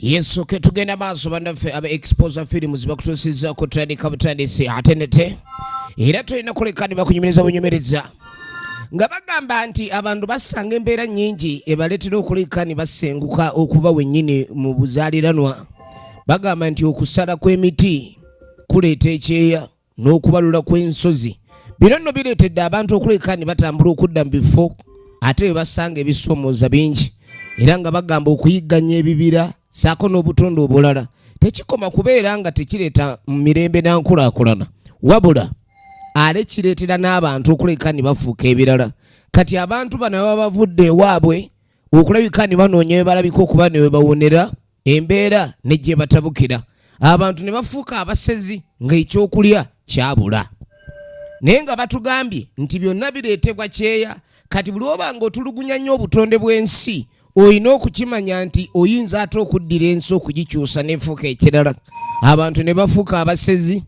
yesu ke tugenda maaso bannaffe aba exposer films bakutuusiza okutandika butandisi ate nete era tulina kuleka ne bakunyumiriza bunyumiriza nga bagamba nti abantu basanga embeera nnyingi ebaleetera okuleka ne basenguka okuva wennyini mu buzaaliranwa Bagamba nti okusala kw'emiti kuleeta ekyeya n'okubalula kw'ensozi. Bino nno bireetedde abantu okuleka ne batambula okudda mu bifo ate bwe basanga ebisoomooza bingi era nga bagamba okuyigganya ebibira saako n'obutonde obulala tekikoma kubeera nga tekireeta mu mirembe na nkulaakulana wabula ale kireetera n'abantu okuleka ne bafuuka ebirala kati abantu bano baba bavudde ewaabwe okulabika ne banoonya we balabika okuba ne we bawonera embeera ne gyebatabukira abantu ne bafuuka abasezi ng'ekyokulya kyabula naye nga batugambye nti byonna bireetebwa kyeya kati buli oba nga otulugunya nnyo obutonde bw'ensi olina okukimanya nti oyinza ate okuddira ensi okugikyusa nefuuka ekirala abantu ne bafuuka abasezi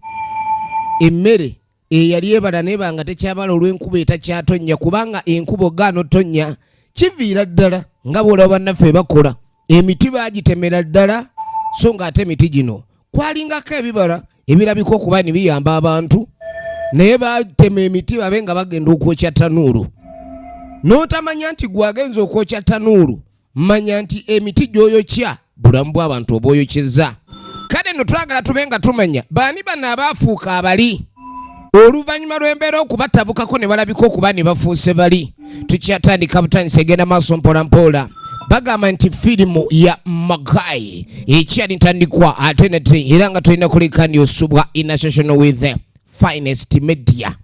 emmere eyali ebala neba nga tekyabala olw'enkuba etakyatonnya kubanga enkuba ogaana otonnya kiviira ddala nga bwolaba bannaffe bakola emiti bagitemera ddala so nga ate emiti gino kwalingako ebibala ebirabika okuba ni biyamba abantu naye batema emiti babe nga bagenda okwokya tanuulu n'otamanya nti gwagenza okwokya tanuulu manya nti emiti gy'oyokya bulamu bw'abantu obwoyokyeza kale no twagala tube nga tumanya baani bano abaafuuka abali oluvannyuma lw'embeera okubatabukako ne balabika okuba ne bafuuse bali tukyatandika butandisa egenda maaso mpolampola bagamba nti firimu ya magai ekyali ntandikwa ate nate era nga tulina kuleka ndi osubwa inational with finest media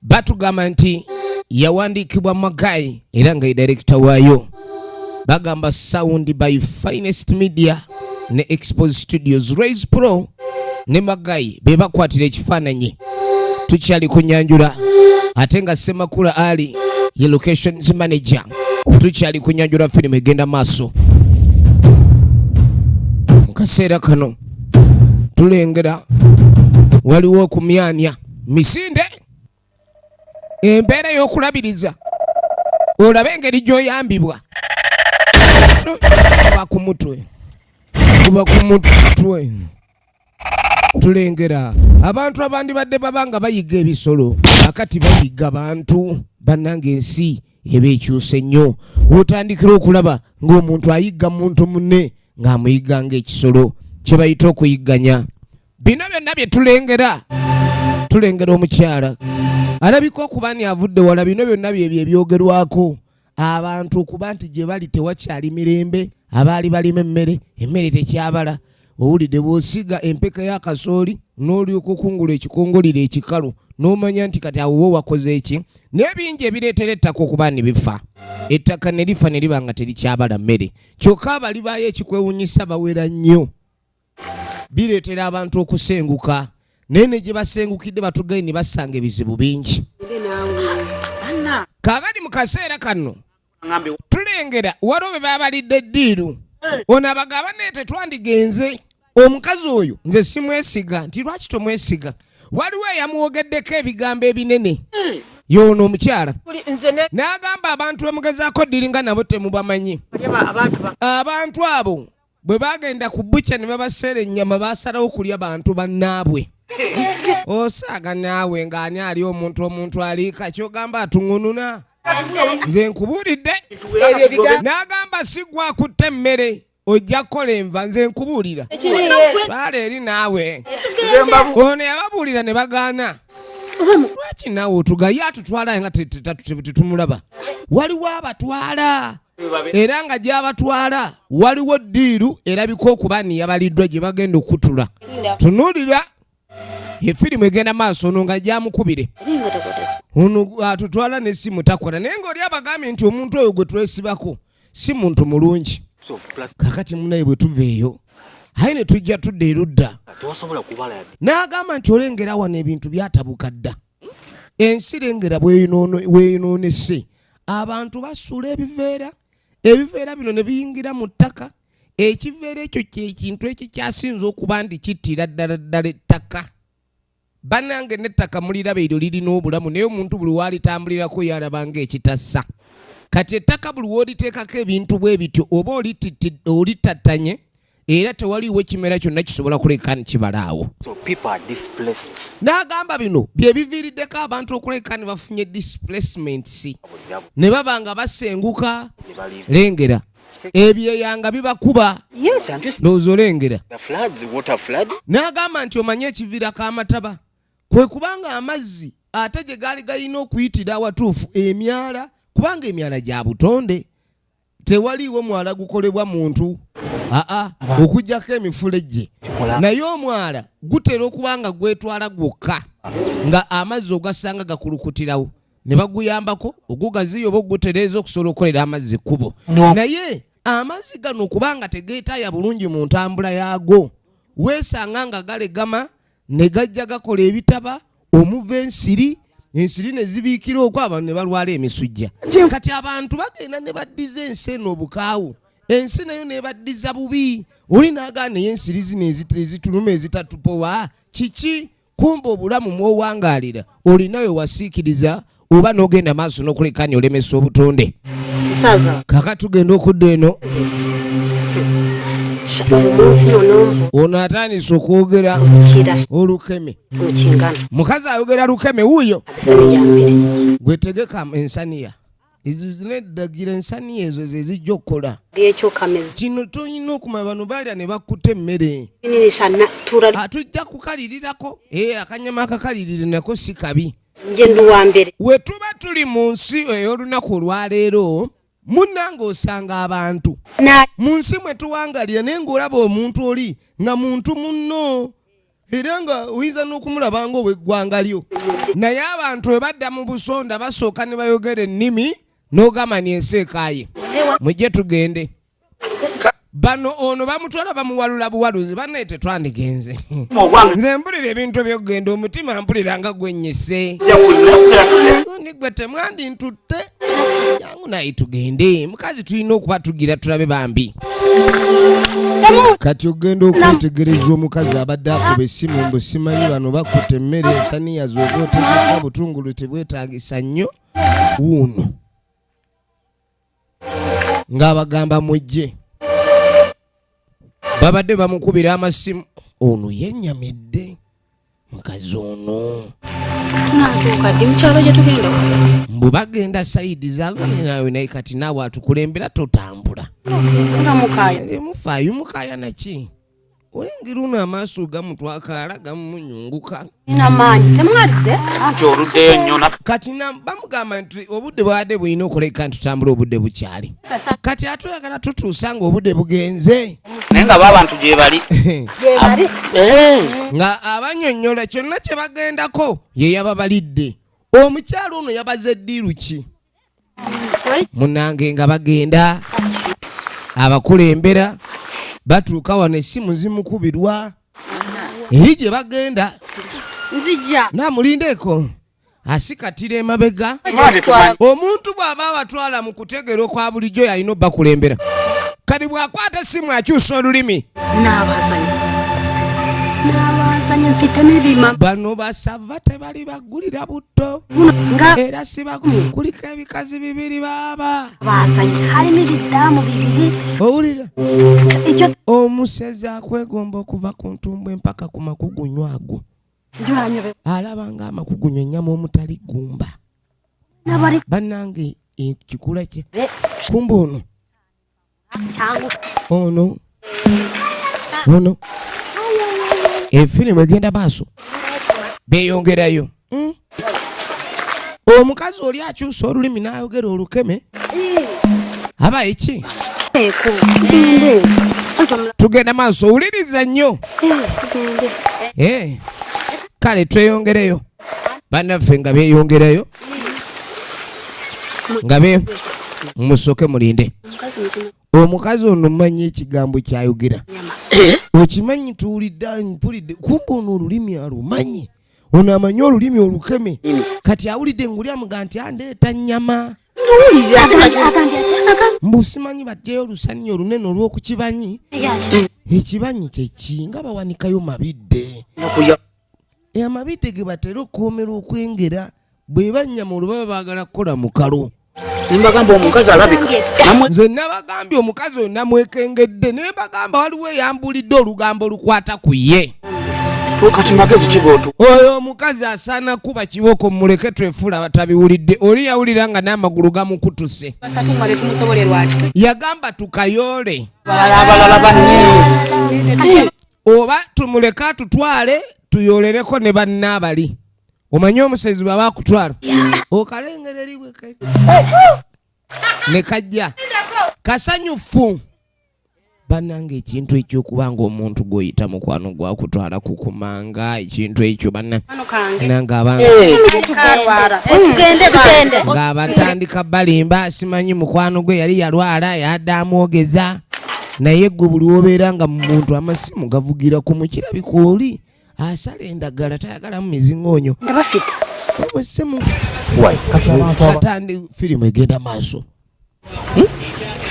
batugamba nti yawandiikibwa magayi era nga ye direkita waayo bagamba sound by finest media ne expose studios raise pro ne magayi be bakwatira ekifaananyi tukyali kunyanjula ate nga semakula ali ye locations manager tukyali kunyanjula firimu egenda maaso mu kaseera kano tulengera waliwo okumyanya misinde embeera y'okulabiriza olabe engeri gy'oyambibwa kuba ku mutwe kuba ku mutwe tulengera abantu abandibadde baba nga bayiga ebisolo akati bayiga bantu bannanga ensi eba ekyusa ennyo wotandikira okulaba ng'omuntu ayigga muntu munne ng'amuyigga ng'ekisolo kye bayita okuyigganya bino byonna bye tulengera tulengera omukyala alabika okuba ni avudde wala bino byonna byebyo ebyogerwako abantu okuba nti gye bali tewakyali mirembe abaali balima emmere emmere tekyabala owulidde bw'osiga empeka ya kasooli n'olyoka okungula ekikongoliro ekikalu n'omanya nti kati awo wo wakoze eki n'ebingi ebireetera ettaka okuba ne bifa ettaka ne lifa ne liba nga terikyabala mmere kyokka abali baayo ekikwewunyisa bawera nnyo bireetera abantu okusenguka naye ne gye basengukidde batugayi ne basanga ebizibu bingi kaagadi mu kaseera kano tulengera waliwo be babalidde ddiiru ono abagaba naye tetwandigenze omukazi oyo nze simwesiga nti lwaki tomwesiga waliwo eyamwogeddeko ebigambo ebinene yoono omukyala n'agamba abantu bemugezaako ddiringa nabo temubamanyi abantu abo bwe bagenda ku bucha ne babaseera ennyama basalawo kulya bantu bannaabwe osaaga naawe ng'ani ali omuntu omuntu aliika kyogamba atuŋununa nze nkubuulidde n'agamba sigwa kutte emmere ojja kukola enva nze nkubuulira baala eri naawe ono yababuulira ne bagaana lwaki naawe otugaye atutwala nga tetumulaba waliwo abatwala era nga gyabatwala waliwo ddiiru erabika okuba niyabaliddwa gye bagenda okutula tunuulira efirimu egenda maaso ono nga gyamukubire ono atutwala nesimu takola naye ngaoli abagambye nti omuntu oyo gwe twesibako si muntu mulungi kakati munaye bwe tuva eyo aye ne tujja tudda erudda n'agamba nti olengera wano ebintu byatabuka dda ensi lengera bweyonoonese abantu basuula ebiveera ebiveera bino ne biyingira mu ttaka ekiveera ekyo kyekintu ekikyasinza okuba nti kittira ddala ddala ettaka banange nettaka muliraba eryo lirina obulamu naye omuntu buli walitambulirako yaraba nga ekitassa kati ettaka buli woliteekako ebintu bwe bityo oba olitattanye era tewaliwo ekimera kyonna kisobola kuleka nikibalaawo n'agamba bino bye biviiriddeko abantu okuleka ne bafunye displacements ne baba nga basenguka lengera ebyeyanga bibakuba ndowooza olengera n'agamba nti omanye ekiviirako amataba kwe kubanga amazzi ate gye gaali galina okuyitira awatuufu emyala kubanga emyala gya butonde tewaliiwo mwala gukolebwa muntu aa okujjako emifulejje naye omwala gutera okuba nga gwetwala gwokka nga amazzi ogasanga gakulukutirawo ne baguyambako ogugaziyo oba ogutereeza okusobola okukolera amazzi kkubo naye amazzi gano kubanga tegeetaaya bulungi mu ntambula yaago weesanga nga galegama ne gajja gakola ebitaba omuva ensiri ensiri ne zibiikira okwo abantu ne balwala emisujja kati abantu bagenda ne baddiza ensi eno obukaawu ensi nayo nebaddiza bubi oli nagaa naye ensiri zino ezituluma ezitatupowa kiki kumba obulamu mwowangaalira olinayo wasiikiriza oba n'ogenda maaso n'okulekanya olemesa obutonde kaka tugenda okudda eno ono atandise okwogera olukeme mukazi ayogera lukeme wuuyo gwetegeka ensaniya neddagira ensaniya ezo zezijja okukola kino tolina okuma bano balya ne bakkuta emmere atujja kukalirirako eh, akanyama akakalirire nako si kabi nje ndi wa mbere we tuba tuli mu nsi ey'olunaku olwaleero munnanga osanga abantu mu nsi mwe tuwangalira naye ng'olaba omuntu oli nga muntu munno era nga oyinza n'okumulaba nga ow'eggwanga lyo naye abantu bwe badda mu busonda basooka ne bayogera ennimi n'ogamba ni ensi ekaaye mujje tugende bano ono bamutwala bamuwalula buwaluzi banaye tetwandigenze nze mpulira ebintu ebyokugenda omutima mpulira nga gwenyise nigwe temwandi ntutte yangu naye tugende mukazi tulina okuba tugira tulabe bambi kati ogenda okwetegereza omukazi abadde akuba essimu mbu simanyi bano bakuta emmere ensaniya zoba otegeka butungulu tebwetagisa nnyo wuuno ng'abagamba mujje babadde bamukubira amasimu ono yenyamidde mukazi ono mbu bagenda saidi zagonenawe naye kati naawe atukulembera totambula mufaayo mukaya naki olengera ono amaaso gamutwakaala gamunyunguka kati bamugamba nti obudde bwabadde bulina okuleka ntutambula obudde bukyali kati atuyagala tutuusa nga obudde bugenze naye nga babantu gyebali eh. nga abanyonyola kyonna kyebagendako yeyababalidde omukyalo ono yabaze eddiiru ki munange nga bagenda abakulembera batuuka wano essimu zimukubirwa eri gye bagenda namulindeeko asikatira emabega omuntu bw'aba abatwala mu kutegeera okwa bulijjo yalina obakulembera kati bw'akwata essimu akyusa olulimi bano basava teba alibaggulira butto era sibakulika ebikazi bibiri baaba owulira omusezi akwegomba okuva ku ntumbu empaka ku makugunyu ago alaba nga amakugunyu ennyama omutali gumba bannange ekikula kye kumba ono ono ono efirimu egenda maaso beyongerayo hmm? omukazi oli akyusa olulimi nayogera olukeme aba eki tugenda maaso wuliriza nnyo eh, kale tweyongereyo banaffe nga beyongerayo nga be musoke mulinde omukazi ono manyi ekigambo kyayogera eh? okimanyi tuwulidde mpulidde kumba ono olulimi alumanyi ono amanyi olulimi olukeme kati awulidde nguli amuga nti andeeta nyama mbu simanyi bajjayo olusanyi olunene olwokukibanyi ekibanyi kyeki nga bawanikayo mabidde amabidde ge batera okukuumirwa okwengera bwe bannyama olubaba baagala kukola mukalo nembagamba omukazi alabika nze nabagambye omukazi oyo namwekengedde naye bagamba waliwo eyambulidde olugambo olukwata ku ye oyo omukazi asaana kuba kiboko muleke twefuula abatabiwulidde oli yawulira nga n'amagulu gamukutuse yagamba tukayoole oba tumuleke atutwale tuyolereko ne banna abali omanyi omusezi bwaba akutwala okalengera eri bwe ne kajja kasanyufu bananga ekintu ekyokuba nga omuntu gwoyita mukwano gwakutwala kukumanga ekintu ekyo banangabatandika eh. balimba simanyi mukwano gwe yali yalwala yadde amwogeza naye gwe buli wobeera nga muntu amasimu gavugira ku mukirabika oli asala endagala tayagalamu mizingoonyo abasimu katandi firimu egenda maaso hmm?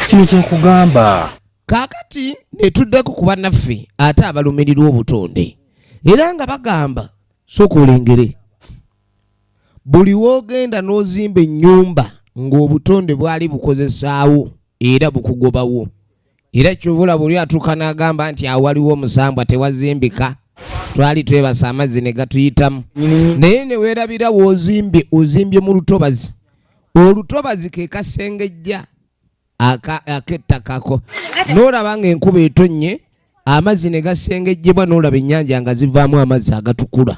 kino kyekugamba kakati netuddeko ku banaffe ate abalumirirwa obutonde era nga bagamba soka olengere buli w'ogenda n'ozimba ennyumba ng'obutonde bwali bukozesaawo era bukugobawo era kyovula buli atuuka n'agamba nti awaliwo omusambwa tewazimbika twali twebasa amazzi ne gatuyitamu naye ne weerabira w'ozimbye ozimbye mu lutobazi olutobazi ke kasengejja akettakako n'olaba ng'enkuba etonnye amazzi ne gasengejjebwa n'olaba ennyanja nga zivaamu amazzi agatukula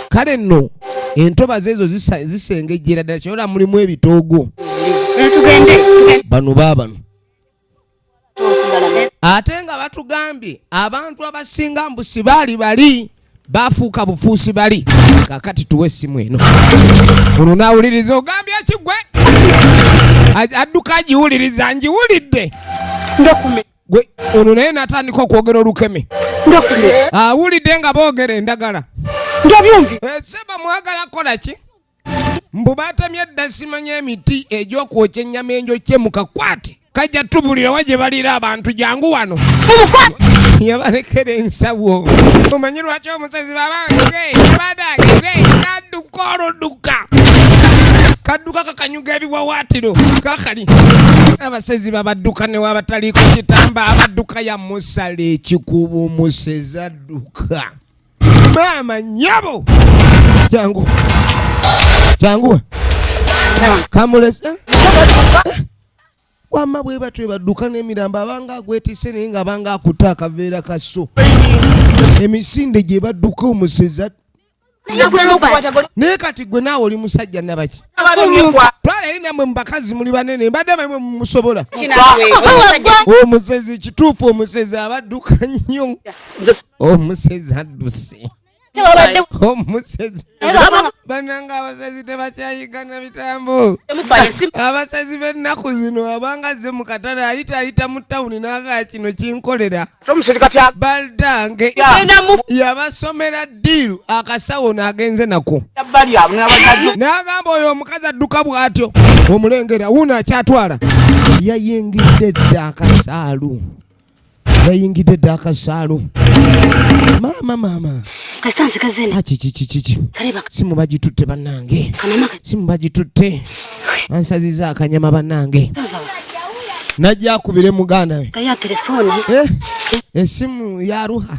kale nno entobazi ezo zisengejjera ddala kyola mulimu ebitoogo bano baabano ate nga batugambye abantu abasinga mbusi baali bali bafuuka bufuusi bali kakati tuwe essimu eno ono nawuliriza ogambye kigwe adduka agiwuliriza ngiwulidde gwe ono naye natandika okwogera olukeme awulidde nga boogera endagala eh, seba mwagala kolaki mbu batamye dda simanya emiti egyokwokya ennyama enjokye mukakwate kajja tubulira wa gye baliira abantu jangu wano yabalekera ensawo omanyi lwaki omusezi babaabadagekaduka oludduka kadduka kakanyuga ebiwawaatiro kakali abasezi babadduka newabataliiko kitamba abadduka yamusala ekikuba omusezi adduka maama nyabo jangu jangu kamulese wamma bwe batyo badduka n'emirambo abanga agwetise naye nga abanga akutte akaveera kaso emisinde gye badduka omuseza naye kati gwe naawe oli musajja nabaki twala eri namwe mubakazi muli banene mbadde bamwe mumusobola omusezi kituufu omusezi abadduka nnyo omusezi adduse omusezi bananga abasezi tebakyayigana bitambo abasezi bennaku zino abanga ze mu katale ayita ayita mu tawuni naga kino kinkolera baldange yabasomera diiru akasawo nagenze nako nagamba oyo omukazi adduka bwatyo omulengera wuno akyatwala yayingidde dda akasaalu yayingidde dda akasaalu maama maama akikikikiki ah, simu bagitutte bannange simu bagitutte ansaziza akanyama bannange najja akubire muganda we eh? esimu yaruha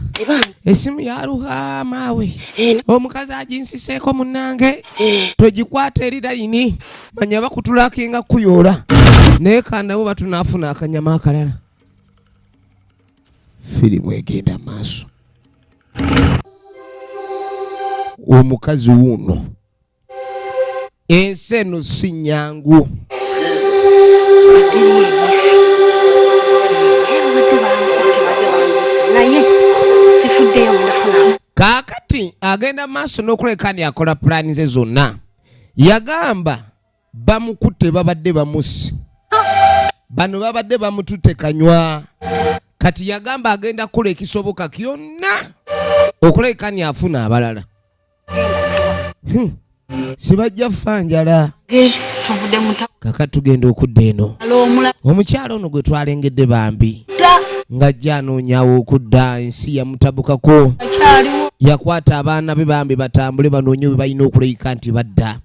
esimu yaruha maawe eh, omukazi aginsiseeko munange eh. togikwata eri layini manya bakutulakinga kuyoola naye kandawo batunafuna akanyama akalala firimu egenda maaso omukazi wuuno ensi eno si nyangu kaakati agenda maaso n'okuleka ni akola pulaani ze zonna yagamba bamukutte babadde bamusi bano babadde bamututte kanywa kati yagamba agenda kukola ekisoboka kyonna okulekani afuna abalala hmm. sibajja fa njala kaka tugenda okudda eno omukyalo ono gwe twalengedde bambi ng'ajja anoonyawo okudda ensi yamutabukako yakwata abaana be bambi batambule banoonye bwe balina okuleyika nti badda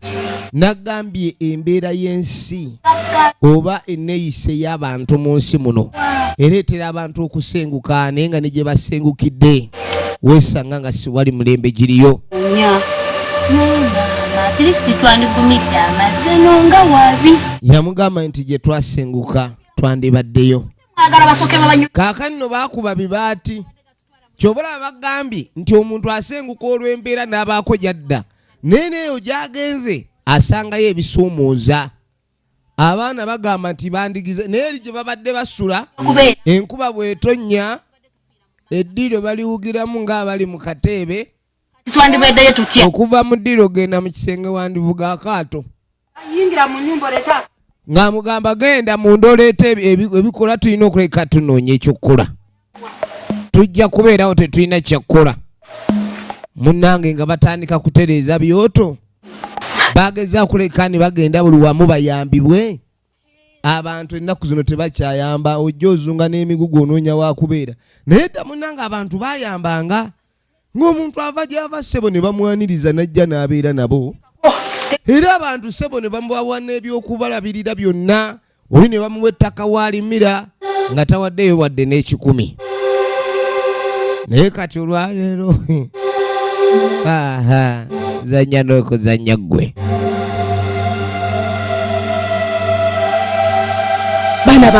nagambye embeera y'ensi oba enneeyisa ey'abantu mu nsi muno ereetera abantu okusenguka naye nga ne gye basengukidde weesanga nga siwali mulembe giriyo yamugamba nti gye twasenguka twandibaddeyo kaakani no baakuba bibaati kyova olaba bagambye nti omuntu asenguka olw'embeera n'abaako gyadda naye neeyo gyagenze asangayo ebisuumuuza abaana bagamba nti bandigize naye eri gye babadde basula enkuba bwetonnya eddiiro baliwugiramu ng'abali mu kateebe okuva mu ddiiro genda mu kisenge wandivuga akaato yingira mu nyumba oleeta ng'amugamba genda munda oleeta ebikola tulina okuleka tunoonya ekyokukola tujja kubeerawo tetulina kyakukola munnange nga batandika kutereeza byoto bageza kuleka ne bagenda buli wamu bayambibwe abantu ennaku zino tebakyayamba ojja ozunga n'emigugu onoonya wakubeera naye dda munnange abantu bayambanga ng'omuntu ava gy'ava ssebo ne bamwaniriza n'ajja n'abeera nabo era abantu ssebo ne bamubawa n'ebyokubalabirira byonna oli ne bamuwa ettaka waalimira nga tawaddeyo wadde n'ekikumi naye kati olwaleero aha zanya nokuzanya gwe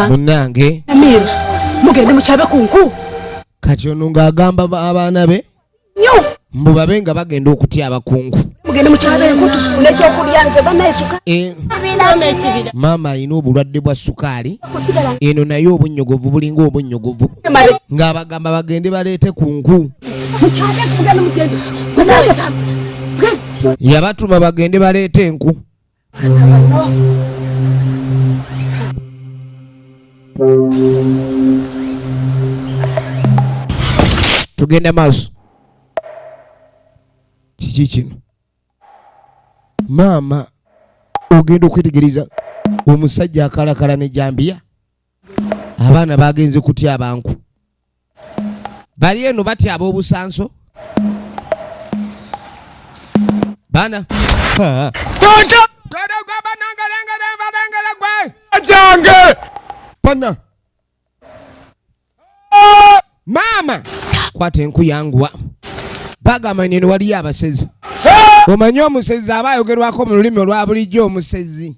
munange mugende mukyabe kunku kati ono ng'agamba abaana be mbu babe nga bagenda okutya abakungu eh, maama alina obulwadde bwa sukaali eno naye obunnyogovu bulinga obunnyogovu ng'abagamba bagende baleete ku nku yabatuma bagende baleete enku tugende maaso kiki kino maama ogenda okwetegereza omusajja akalakala ne jambiya abaana bagenze kutya abanku bali eno batya ab'obusanso bana bana maama kwata enku yanguwa bagamba neno waliyo abasezi omanyi omusezi aba ayogerwako mu lulimi olwa bulijjo omusezi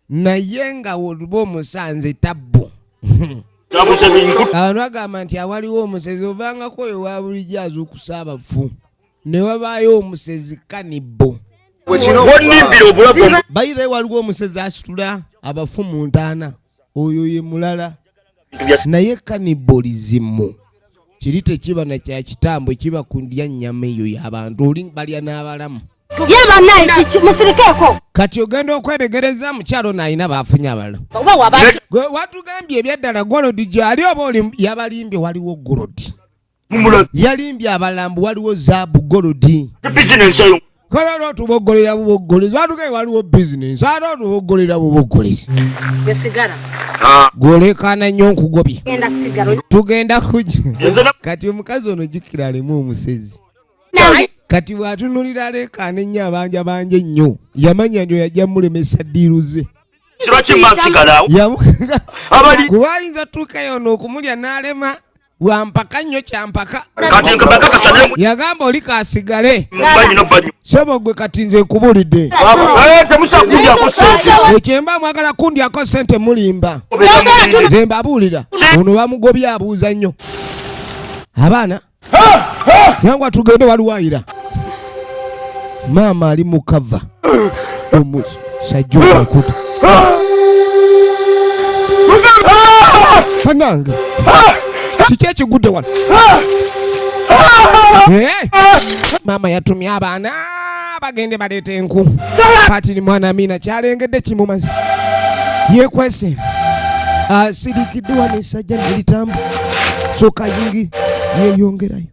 naye nga woluba omusanze tabbu abantu agamba nti awaliwo omusezi ovangako oyo wabulijjo azuukusa abafu ne wabaayo omusezi kanibbo bayibe waliwo omusezi asitula abafu mu ntaana oyo ye mulala naye kanibolizimu kiri tekiba na kya kitambo kiba ku ndya nnyama eyo y'abantu oli balya n'abalamu ye banaye musirikeeko kati ogenda okweregereza mukyalo ono alina baafunye abalala watugambye ebyaddala golodi gyali oba yabalimbye waliwo golodi yalimbye abalala mbu waliwo zaabu golodi kale ate otuboggolera buboggolezi atuke waliwo bizinensi ate otuboggolera buboggolezi ah. gwolekaana nnyo nkugobye tugenda kuja kati omukazi ono jukira alimu omusezi kati bwatunulira alekaana ennyo abanja banja ennyo yamanya nti oyajja mulemesa diiru ze kuba ayinza tuukayo ono okumulya n'alema wampaka nnyo kyampaka yagamba oli kasigale sebo gwe kati nze nkubulidde eh, ekyemba mwagala kundyako sente mulimba nze mbabuulira ono bamugobye abuuza nnyo abaana yangwa tugende waliwayira maama ali mukava omusajja owakuta banange kiki ekigudde wano eh? maama yatumye abaana bagende baleeta enku patiri mwana amiina kyalengedde kimumazi yekwese asirikidde ah, wano esajja nelitambu soka yingi yeyongerayo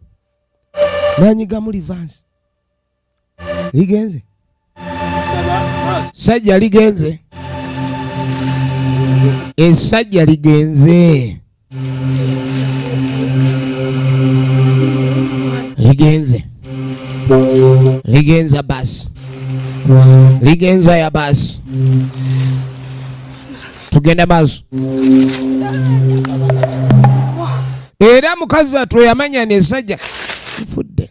nanyigamu livansi ligenze sajja ligenze esajja ligenze ligenze ligenza basi ligenza ya basi tugende maaso era mukazi watu yamanya nesajja nfudde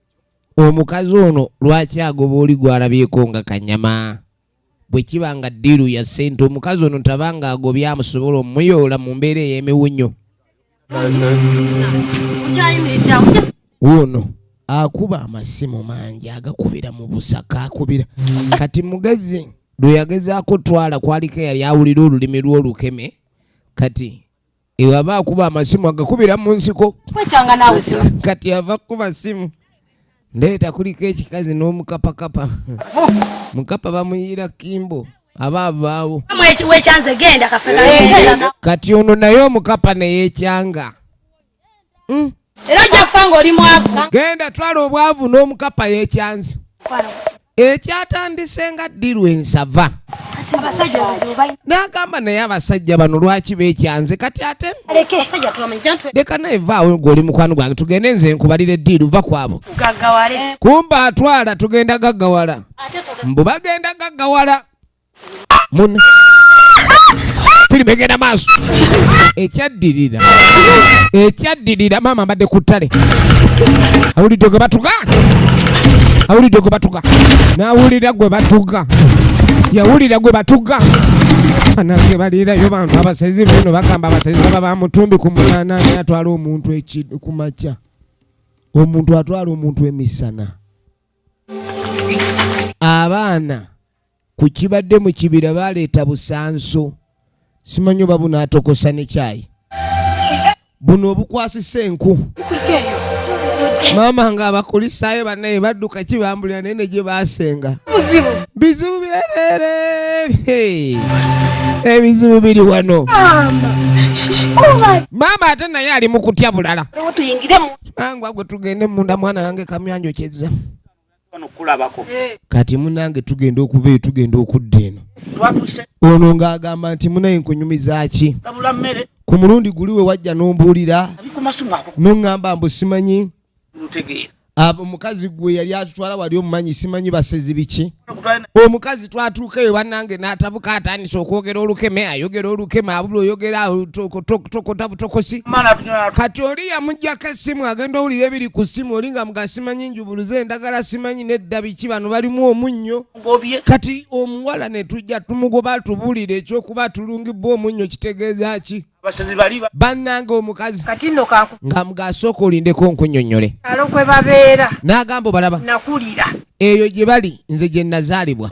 omukazi ono lwaki agoba oli gwalabyeko nga kanyama bwe kiba nga ddiiru ya ssente omukazi ono taba nga agobye amusobola omuyoola mu mbeera ey'emiwunyo wuuno akuba amasimu mangi agakubira mu busaka akubira kati mugezi lwe yagezaako twala kwaliko eyali awulira olulimi lw'olukeme kati Eyo aba akuba amasimu agakubira mu nsiko. Kwekyanga naawe simu. Kati ava kukuba simu. Ndeeta kuliko ekikazi n'omukapakapa. Mukapa bamuyiira kimbo. aba avaawo kati ono naye omukapa neyekyanga mm. era ojjakufa ngaoli mwavu genda twala obwavu n'omukapa yekyanzi ekyatandise nga ddirwa ensava nagamba naye abasajja bano lwaki bekyanze kati ate leka naye vaawo gwe oli mukwano gwange tugende nze nkubalire ddiiru va kwabo kumba atwala tugenda gaggawala mbu bagenda gaggawala Mun firimu egenda maaso ekyaddirira ekyaddirira maama mbadde ku ttale awulidde gwe batuga awulidde gwe batuga n'awulira gwe batuga yawulira gwe batuga banange baliirayo bantu abasezi beno bagamba abasezi baba bamutumbi ku munana naye atwala omuntu ku makya omuntu atwala omuntu emisana abaana ku kibadde mu kibira baleeta busanso simanyi oba buno atokosa ne kyayi buno obukwasisa enku maama nga abakulisaayo banaye badduka kibambulira naye ne gye baasenga bizibu byerere ebizibu eh, biri wano maama ate naye ali mu kutya bulala angwa gwe tugende munda mwana wange kamyanjo kyezza kati munange tugenda okuva eyo tugenda okudda eno ono ng'agamba nti munaye nkunyumizaki ku mulundi guli we wajja n'ombuulira noŋŋamba mbu simanyi omukazi gwe yali atutwala wali omumanyi simanyi basezi biki omukazi twatuukayo banange natabuka atandise okwogera olukeme ayogera olukeme abula oyogera tokotabutokosi kati oli yamujjako essimu agenda owulira ebiri ku ssimu oli nga mugasimanyi buluze endagala simanyi nedda biki bano balimu omunnyo kati omuwala netujja tumugoba tubulire ekyokuba tulungibwa omunnyo kitegeeza ki bannanga omukazi nga mugasooka olindeko nkunyonyole n'agamba obalaba eyo gye bali nze gye nazaalibwa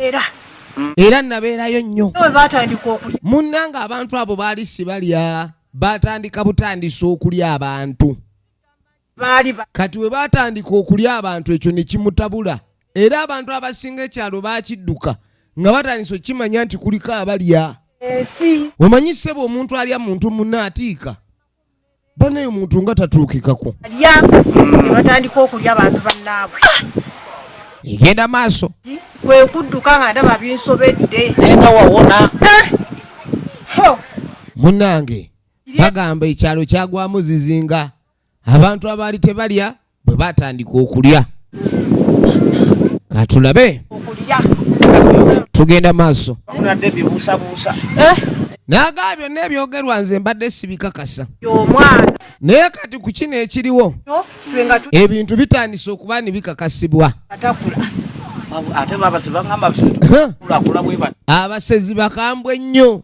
mm. era nabeerayo nnyo munnanga abantu abo baali sibalya batandika butandisa okulya abantu kati we baatandika okulya abantu ekyo ne kimutabula era abantu abasinga ekyalo baakidduka nga batandise okukimanya nti kuliko abalya omanyi ssebo omuntu alya muntu munna atiika banaye omuntu nga tatuukikako batandika okulya abantu bannaabwe egenda maaso kwe kudduka nga ndaba binsobedde naye nga wawona eh! munnange bagamba ekyalo kyagwamu zizinga abantu abaali tebalya bwe batandika okulya katulabe tugenda maaso eh? nagaa byonna ebyogerwa nze mbadde sibikakasa naye kati ku kino ekiriwo ebintu bitandise okuba ni bikakasibwa abasezi bakambwe nnyo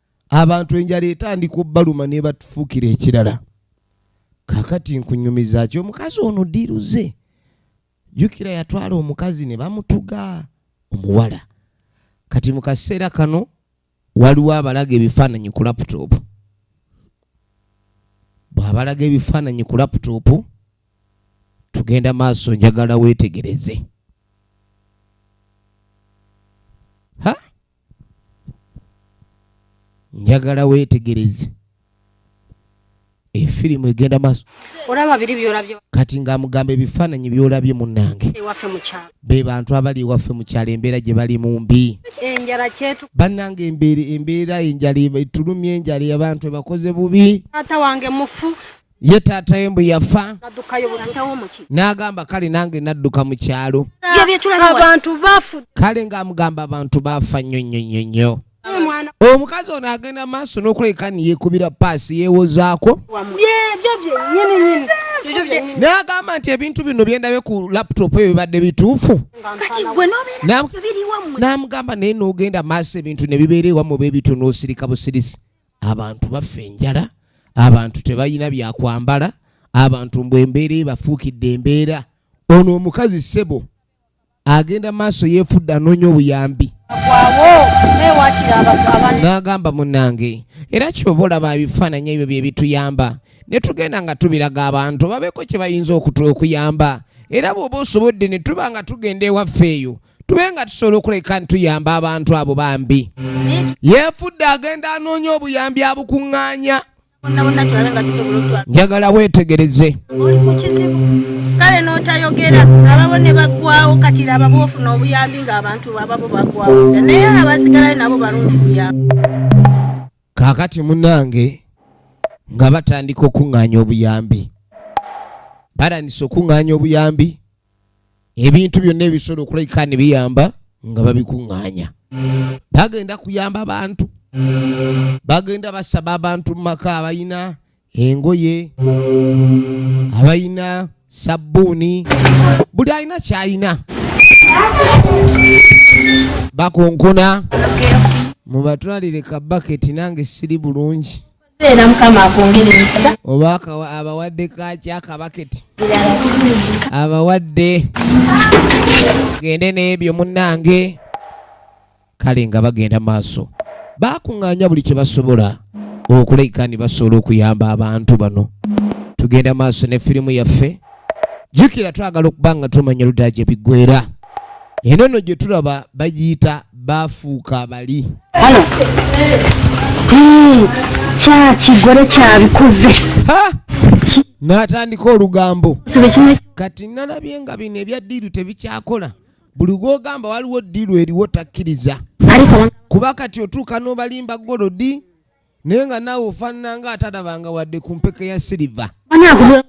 abantu enjala etandika obaluma nebatufuukira ekirala kakati nkunyumiza ki omukazi ono diruze jukira yatwala omukazi ne bamutuga omuwala kati mu kaseera kano waliwo abalaga ebifaananyi ku laputopu bw'abalaga ebifaananyi ku laputopu tugenda maaso njagala weetegereze njagala weetegereze efirimu egenda maaso kati ng'amugamba ebifaananyi by'olabye munnange be bantu abali ewaffe mu kyalo embeera gye bali mu mbi bannange embeera enjala etulumya enjala abantu ebakoze bubi ye taata we mbu yafa n'agamba kale nange nadduka mu kyalo kale ng'amugamba abantu baafa nnyo nnyo nnyo nnyo omukazi ono agenda maaso n'okulabika ni yeekubira paasi yeewozaako n'agamba nti ebintu bino byendabe ku laputopu ebyo bibadde bituufu n'amugamba naye n'ogenda maaso ebintu ne bibeera ewamu oba ebitunoosirika busirisi abantu bafa enjala abantu tebalina byakwambala abantu mbu embeera ebafuukidde embeera ono omukazi ssebo agenda maaso yeefudde anoonya obuyambi n'agamba munnange era kyova olaba ebifaananyi ebyo bye bituyamba ne tugenda nga tubiraga abantu babeeko kye bayinza okuyamba era bw'oba osobodde ne tuba nga tugenda ewaffe eyo tube nga tusobola okuleka ntuyamba abantu abo bambi yefudde agenda anoonya obuyambi abukuŋŋaanya njagala weetegereze kale n'otayogera ababo ne baggwawo kati laba bwofuna obuyambi ng'abantu ababo baggwawo naye abasigalayo nabo balungi buyambi kaakati munange nga batandika okuŋŋaanya obuyambi batandise okuŋŋaanya obuyambi ebintu byonna ebisobola okulabika ne biyamba nga babikuŋŋaanya bagenda kuyamba bantu bagenda basaba abantu mu maka abalina engoye abalina sabbuuni buli alina kyalina bakonkona mubatwalire kabaketi nange siri bulungi era mukama akwongere emikisa oba abawadde kaki akabaketi abawadde gende n'ebyo munnange kale nga bagenda maaso bakuŋŋaanya buli kye basobola okuleka ni basobola okuyamba abantu bano tugenda maaso ne firimu yaffe jjukira twagala okuba nga tumanya ludaja ebiggwera Eno nno gye tulaba bagiyita baafuuka bali. Halo. Hmm, kya kigole kyabikoze. Ha! N'atandika olugambo. Kati nalabye nga bino ebya ddiiru tebikyakola. Buli gw'ogamba waliwo ddiiru eriwo takkiriza. Kuba kati otuuka n'obalimba golodi. naye nga naawe ofaanana nga atalabanga wadde ku mpeke ya siriva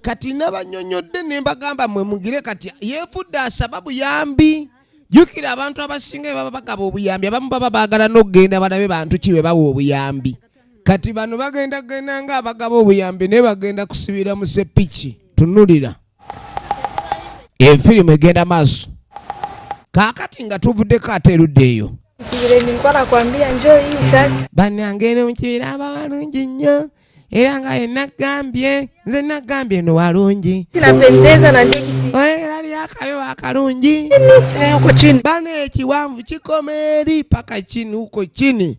kati nabanyonyodde ne mbagamba mwe mugire kati yeefudde asaba buyambi jukira abantu abasinga bebaba bagaba obuyambi abamu baba baagala n'okugenda balabe bantu ki be bawa obuyambi kati bano bagenda genda nga abagaba obuyambi naye bagenda kusibira mu sepiki tunulira Enfirimu egenda maaso. Kaakati nga tuvuddeko ate erudda eyo. Bannange eno mu kibira aba walungi nnyo era nga ye naggambye nze naggambye eno walungi. Olengera lyo akabe wakalungi. Bano ekiwanvu kikoma eri paka kini uko kini.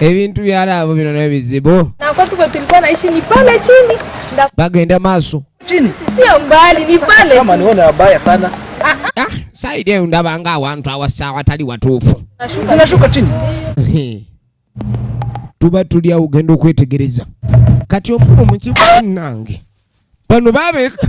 ebintu byalaabo bino nayo bizibu bagenda maaso saidi eyo ndabanga awantu awasa awatali watuufu tuba tuli awo ogenda okwetegereza kati omukulu mukibuzi nange bano babeka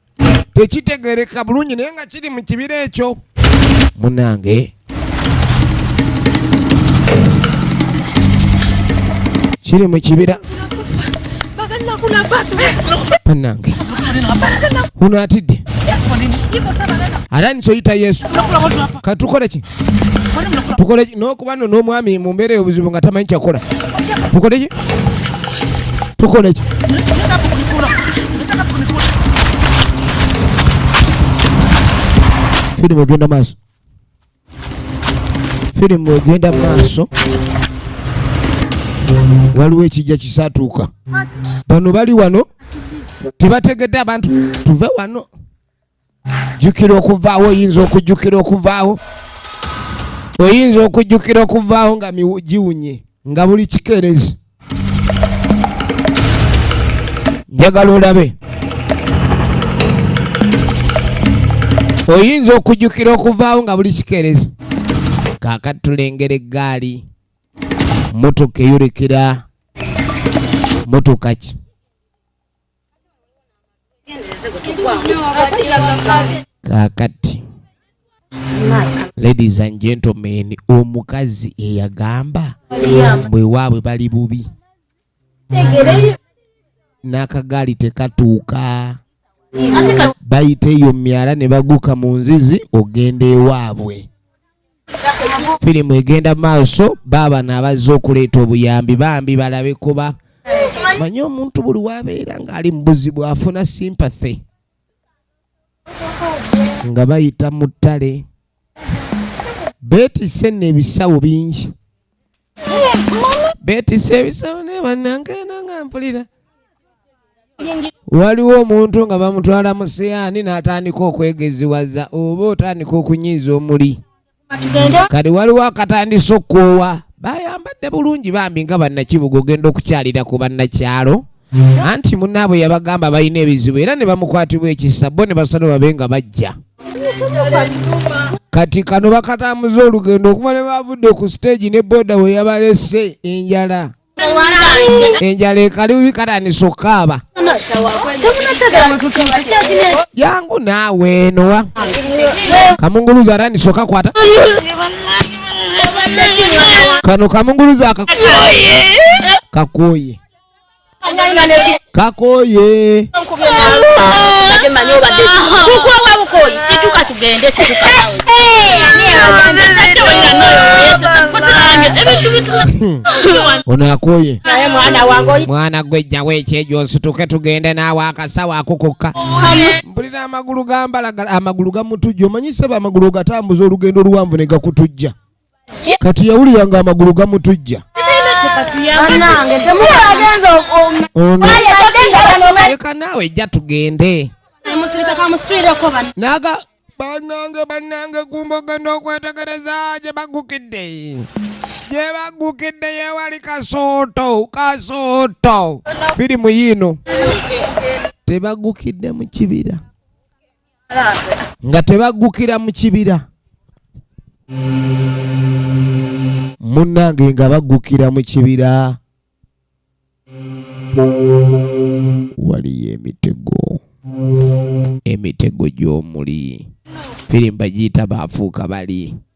tekitegereka bulungi naye nga kiri mu kibira ekyo munange kiri mu kibira banange uno atidde ate nikyoyita yesu katukoleki tukole nokuba no nomwami mumbeera obuzibu nga tamanyi kyakola tukole ki tukole ki firimu egenda maaso firimu egenda maaso waliwo ekijja kisatuuka bano bali wano tebategedde abantu tuve wano jjukira okuvaawo oyinza okujjukira okuvaawo oyinza okujjukira okuvaawo nga giwunye nga buli kikeerezi njagala olabe oyinza okujjukira okuvaawo nga buli kikeerezi kaakati tulengera eggaali motoka eyolekera motoka ki kakati ladies and gentlemen omukazi eyagamba mbu ewaabwe bali bubi n'akagaali tekatuuka bayita eyo myala ne baguka mu nzizi ogenda ewaabwe firimu egenda maaso baaba naabazze okuleeta obuyambi bambi balabe kuba manye omuntu buli wabeera ng'ali mu buzibu afuna sympathy nga bayita mu ttale beetise neebisawo bingi beetisse ebisawo naye bannange nanga mpulira waliwo omuntu nga bamutwala mu siyaani n'atandika okwegeziwaza oba otandika okunyiiza omuli kati waliwo akatandisa okukoowa bayambadde bulungi bambi nga bannakibuga ogenda okukyalira ku bannakyalo anti munnaabwe yabagamba balina ebizibu era ne bamukwatibwa ekisa bo ne basalo babe nga bajja kati kano bakatambuza olugendo okuba ne bavudde ku siteegi ne booda we yabalese enjala enjala ekali bubi katandisa okukaaba jangu naawe enowa kamunguluzi atandisa okakwata kano kamunguluzi akakuoye kakoye ono akoye mwana gwe jjawo ekyejo nsituke tugende naawe akasawo akukukka mpulira amagulu gambalagala amagulu gamutujja omanyiseba amagulu ogatambuza olugendo oluwanvu ne gakutujja kati yawulira nga amagulu gamutujja leka naawe ejja tugende naga banange banange gumba ogenda okwetegereza gye bagukidde gye bagukidde yewali kasooto kasooto firimu yiino tebagukidde mu kibira nga tebaggukira mu kibira munnange nga baggukira mu kibira waliyo emitego emitego gy'omuli firimba giyita baafuuka bali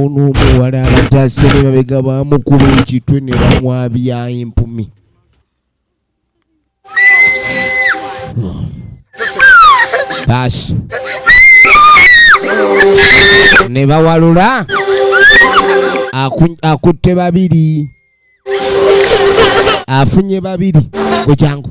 ono omuwala abatase ne babega bamukuba ekitwe ne bamwabya empumi baasi ne bawalula akutte babiri afunye babiri kukyangu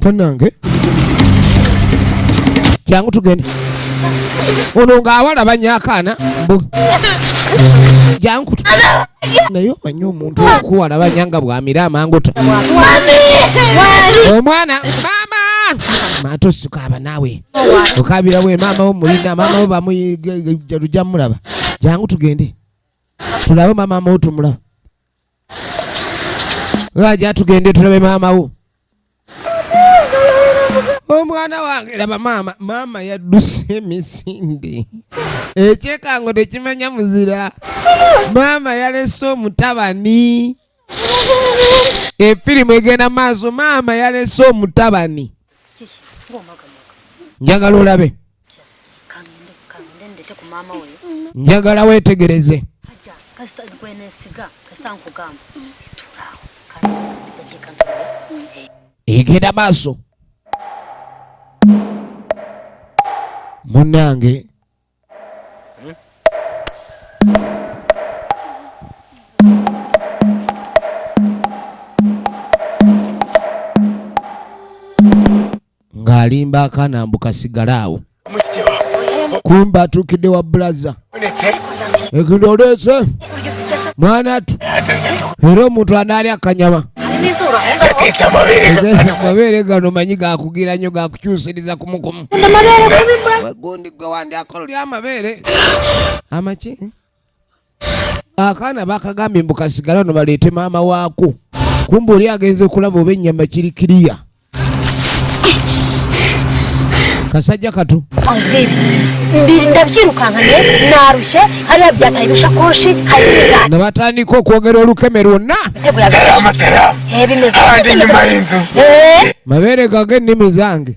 banange kyangu tugende ono ng'awala banyakaana mbu jangu naye omanyi omuntu okuwala banya nga bwamira amangota omwana maama maata osikaaba naawe okabira we maama wo mulina maama wo bamuyijalujamulaba jangu tugende tulabe maama maama wo tumulaba Raja tugende tulabe maama wo. Omwana wange laba maama, maama yadduse emisinde. Ekyekango tekimanya muzira. Maama yalese omutabani. Efirimu egenda maaso maama yalese omutabani. Njagala olabe. njagala wetegereze egenda maaso munange ng'alimba akaana mbu kasigale awo kumba atuukidde wa bulaza ekindi oleese mwana tu era omuntu anaali akanyama amabeere gano manyi gakugira nyo gakukyusiriza kumukumu gundi gwe wandyakololya amabeere amaki akaana bakagambye mbu kasigala no baleete maama waako kumba oli agenze okulaba oba ennyama kiri kiriya kasajja katu nabatandika okwogera olukeme lwonna mabeere gage ennimi zange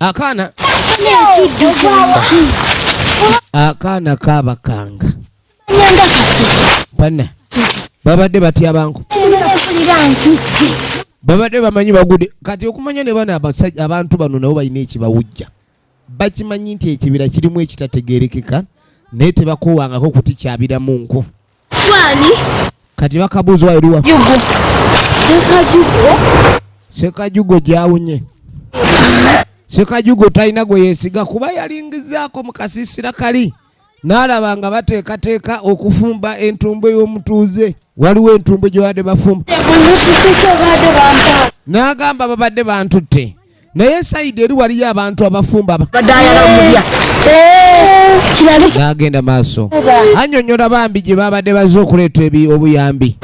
akaana akaana kabakanga bana babadde batya banku babadde bamanyi bagude kati okumanya ne bana abantu bano nabo balina ekibawujja bakimanyi nti ekibira kirimu ekitategerekeka naye tebakowangako kutikyabiramu nku kati bakabuuzwa eriwa sekajugo gyawunye sekajugo talina gwe yesiga kuba yalingizaako mu kasiisira kali n'alaba nga bateekateeka okufumba entumbwe y'omutuuze waliwo entumbwe gye baadde bafumba n'agamba babadde bantutte naye sayidi eri waliyo abantu abafumba n'agenda maaso annyonnyola bambi gye baabadde bazze okuleeta obuyambi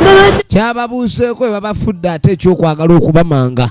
kyababuuseeko bwe babafudde ate ekyokwagala okubamanga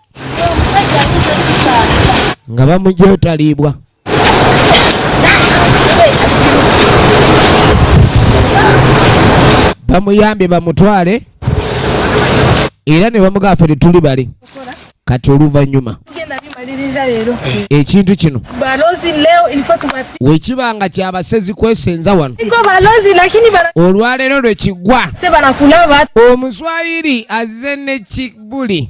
nga bamujetalibwa bamuyambye bamutwale era ne bamugaa fe tetuli bali kati oluvannyuma ekintu kino wekiba nga kyabasezi kwesenza wano olwaleero lwekiggwa omuswayiri azze nekibuli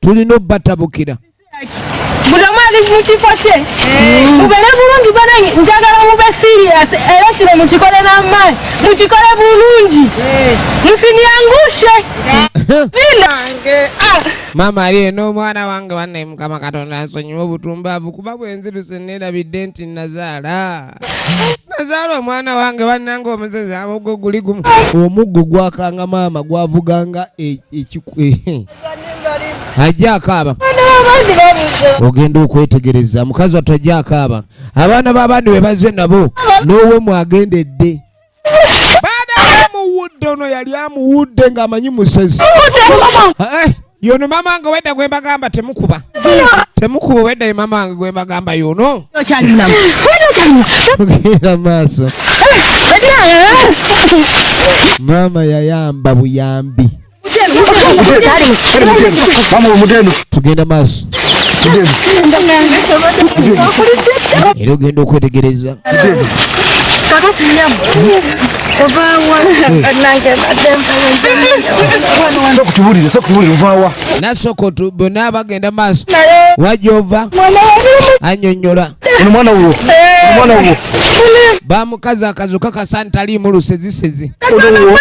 tulina obatabukira buli omu ali mu kifo kye eh. mubere bulungi bana njagala mube serious era kino mukikole n'amaanyi mukikole bulungi eh. musinyangushe eh. ah. maama ali eno omwana wange banne mukama katonda nsonyiwa obutumbavu kuba bwenzirusenneerabidde nti nazaala nazaala omwana wange bannanga omusezi amugo guli gumu omuggo gwakanga maama gwavuganga e, e, e, ajje akaaba ogenda okwetegereza mukazi wattu ajje akaaba abaana b'abandi be bazze nabo n'owemwe agendedde baada yamuwudde ono yali amuwudde ng'amanyi musezi eh, yono mama nga wedda gwembagamba temukuba temukuba wedda ye mama nga gwembagamba yono tugenda maaso mama yayamba buyambi tugenda maaso era ogenda okwetegereza nasooka bona bagenda maaso wajova anyonyola Mwana uwo. Mwana uwo. Ba mukaza akazu kaka santa li mulu sezi sezi. Mwana uwo.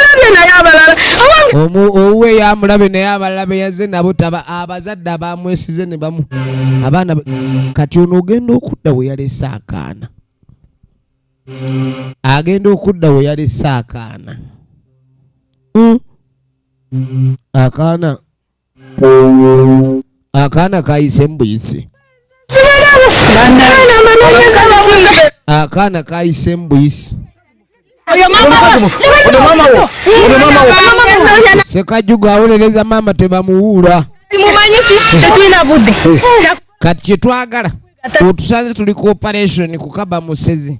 Omu uwe ya mulabe na ya balabe ya zena buta ba abazada ba mwesi zene ba mu. Abana kati ono ugenda okuda we yale sakana. Agenda okuda we yale sakana. Mm. Akana. akaana kayise mbuyisi akaana kayise mbuyisi sekajuga awolereza maama tebamuwuula kati kyetwagala otusanze tuli ku operation kukaba musezi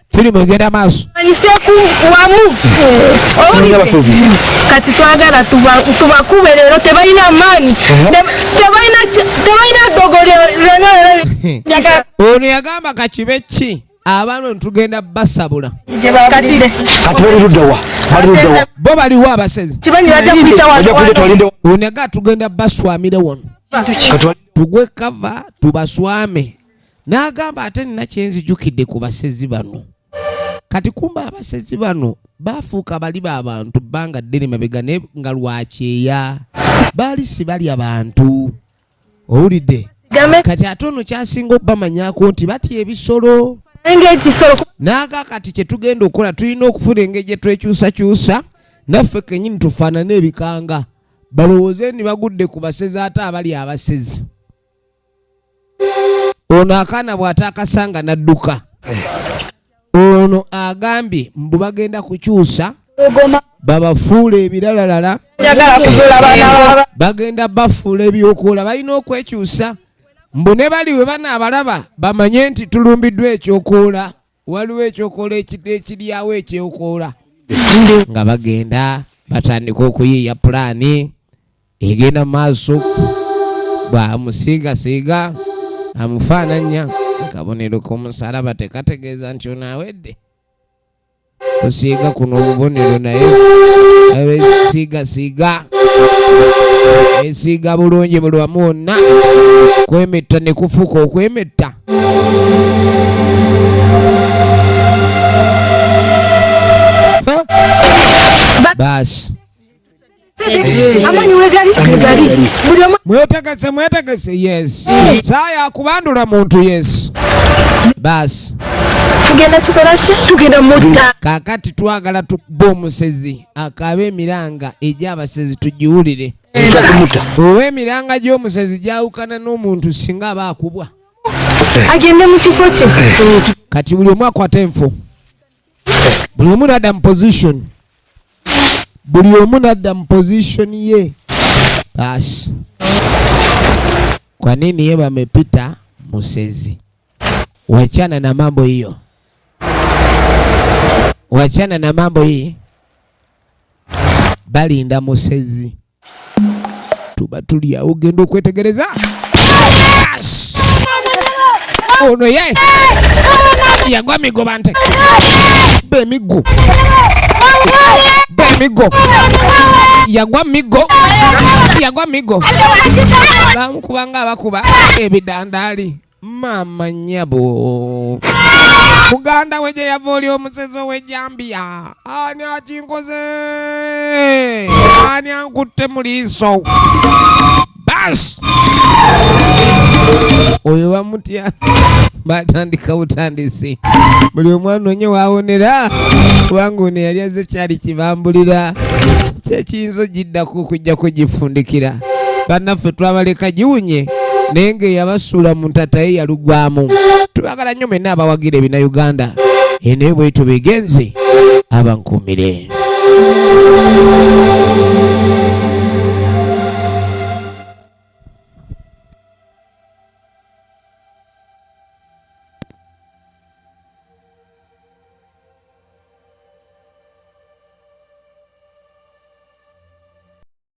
firimu egenda maaso manyiseku wamu owulidde abasozi. kati twagala tuba- tubakube leero tebalina maanyi Te- tebalina ki- tebalina ddogo lyo- lyonna lyonna ono yagamba kakibe ki abaana tugenda basabula kati kati bali ludda wa bali ludda wa bo baliwo abasezi kibanyi bajja kuyita bajja kuleta watu walinde ono aga tugenda baswamire wano kati wali- tugwe kava tubaswame n'agamba ate nina kyenzijukidde ku basezi bano kati kumba abasezi bano baafuuka bali ba bantu bbanga ddene mabega naye nga lwakyeya baali si balya bantu owulidde kati ate ono kyasinga obamanyako nti batya ebisolo naaga kati kyetugenda okukola tulina okufuna engeri gyetwekyusakyusa naffe kenyini tufaanane ebikanga balowooze ni bagudde ku basezi ate abali abasezi ono akaana bw'ataakasanga n'adduka ono agambye mbu bagenda kukyusa babafuula ebiralalala bagenda bafuula ebyokuola balina okwekyusa mbu ne bali we banaabalaba bamanye nti tulumbiddwa ekyokuola waliwo ekyokola ekiryawo ekyokoola nga bagenda batandika okuyiiya pulaani egenda maaso bwamusiigasiiga amufaananya akabonero k'omusalaba tekategeeza nti onaawedde kusiiga kuno obubonero naye abesiigasiiga esiiga bulungi buli wamu wonna kwemetta ne kufuuka okwemetta basi mwetegese mwetegese yes saa yakubandula muntu yes basi tugenda tukola ki tugenda mutta kakati twagala tukuba omusezi akaaba emiranga egy'abasezi tugiwulire owa emiranga gy'omusezi gyawukana n'omuntu singa aba akubwa agende mu kifo kye kati buli omu akwata enfo buli omu nadda mu position buli omu nadda mu position ye basi kwa nini ye bamepita musezi wachana na mambo hiyo wachana na mambo hii balinda musezi tuba tuli awo genda okwetegereza ono ye yagwa migo bante bemigo bemigo yagwa migo yagwa migo bamukubanga abakuba ebidandaali maama nyabo muganda we gye yava oli omusezi ow'ejambiya ani akinkoze ani ankutte mu liiso bas oyo bamutya batandika butandisi buli omwana onye wawonera kubanga ono yali aze kyali kibambulira kyekiyinza ogiddako okujjako gifundikira bannaffe twabaleka giwunye naye ng'eyabasuula mu ntataye yalugwamu tubagala nnyo mwenna abawagira ebina uganda enaye bwetyo begenze abankuumire